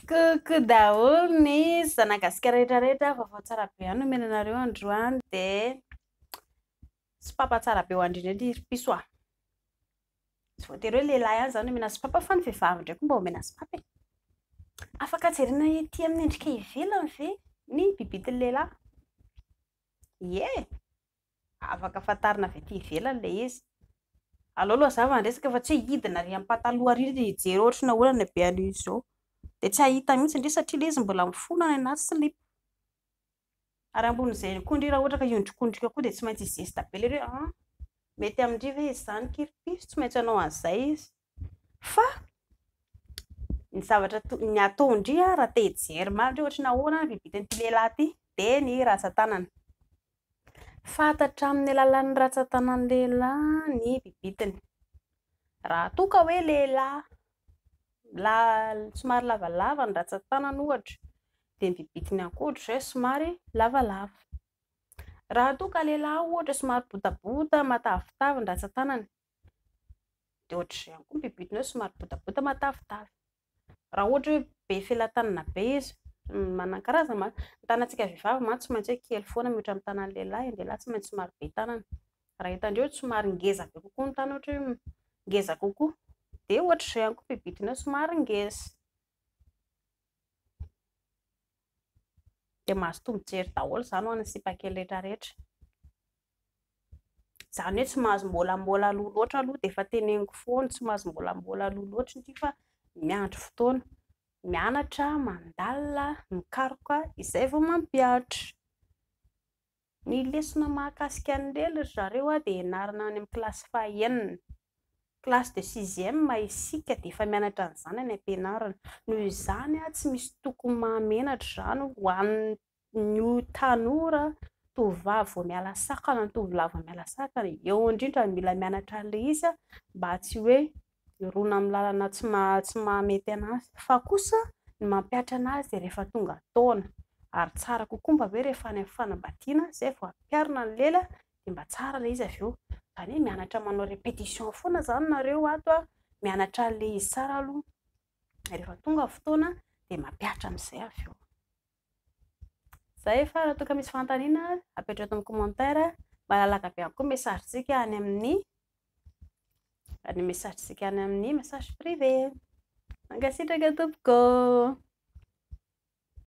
Coucou daholo ny zanagasikara rehetra rehetra, vaovao tsara be ihany no omena anareo androany dia sopapa tsara be ho andrindrindry ry piso a! Tsy voatery hoe lehilahy ihany izany no omena sopapa fa ny vehivavy indray koa mba omena sopapa e! Afaka jerena ety amin'ny endrika ivelany ve ny bibity ny lehilahy? Ie! Afaka fantarina avy aty ivelany ilay izy. Aleo aloha hazava ny resaka fa tsy hoe hidina ary ampataloha ary hijery ohatry ny ahoana ny habeny an'io zo. Dia tsy hahita mihitsy ndry satria ilay izy mbola mifona any anaty silipo. Ary ambonin'izay ihany koa ndry raha ohatra ka hiondrikondrika koa dia tsy maintsy hi-geste be ilay izy hoe an! mety amin-dry ve izy izany kiripiso, tsy maintsy hanao an'izay izy. Fa ny zavatra ny ataon-dry raha te hijery marina ohatra ny ahoana ny vitan'ity lehilahy ity dia ny rantsan-tanana. Fantatra amin'ny alalan'ny rantsan-tanan'ny lehilahy ny bibitiny. Raha toa ka hoe lehilahy la somary lavalava ny rantsan-tanany ohatra dia ny bibitiny ihany koa ohatr'izay somary lavalava. Raha toa ka lehilahy ohatra somary botabota matavitavy ny rantsan-tanany dia ohatr'izay ihany koa ny bibidina hoe somary botabota matavitavy. Raha ohatra hoe be felatanana be izy, manan-karazany mantsy, ny tanantsika vehivavy mantsy tsy maintsy hoe kely foana mihoatra ny tanan'ny lehilahy, ny lehilahy tsy maintsy somary be tanana. Raha hitandreo hoe somary ngeza be kokoa ny tanana ohatra hoe ngeza kokoa dia ohatr'izay ihany koa ny bibidina hoe somary ngeza. dia mahazo tombon-tsery daholo izany ho an'ny sipa kely rehetra rehetra. Izany hoe tsy mahazo mbolambola aloha loatra aloha dia efa teneniko foana, tsy mahazo mbolambola aloha loatra indry fa miandry fotoana, mianatra, mandalina, mikaroka izay vao mampihatra. Ny lesona mahakasika an'i Lely ry zareo dia ianarana any amin'ny kilasy fahenina, classe de sixième, isika dia efa mianatra an'izany any am-pianarana. Noho izany tsy misy tokony maha menatra izany ho an'ny tanora tovovavy vao miala sakana na tovolahy vao miala sakana. Eo indrindra no mila mianatra an'ilay izy mba tsy hoe hirona amin'ny lalana tsy maha tsy maha mety anazy fa kosa ny mampihatra anazy rehefa tonga taona ary tsara kokoa mba hoe rehefa any amin'ny fanambadiana izay vao ampiharina ny lela dia mba tsara ilay izy avy eo izany hoe mianatra manao répétition foana izany nareo ato a, mianatra an'ilay izy tsara aloha rehefa tonga ny fotoana dia mampihatra amin'izay avy eo. Zay fa raha toa ka misy fanontaniana apetraho eto amin'ny commentaire malalaka be ihany koa ny message tsika any amin'ny ny message tsika any amin'ny message privé. Mankasitraka tompoko.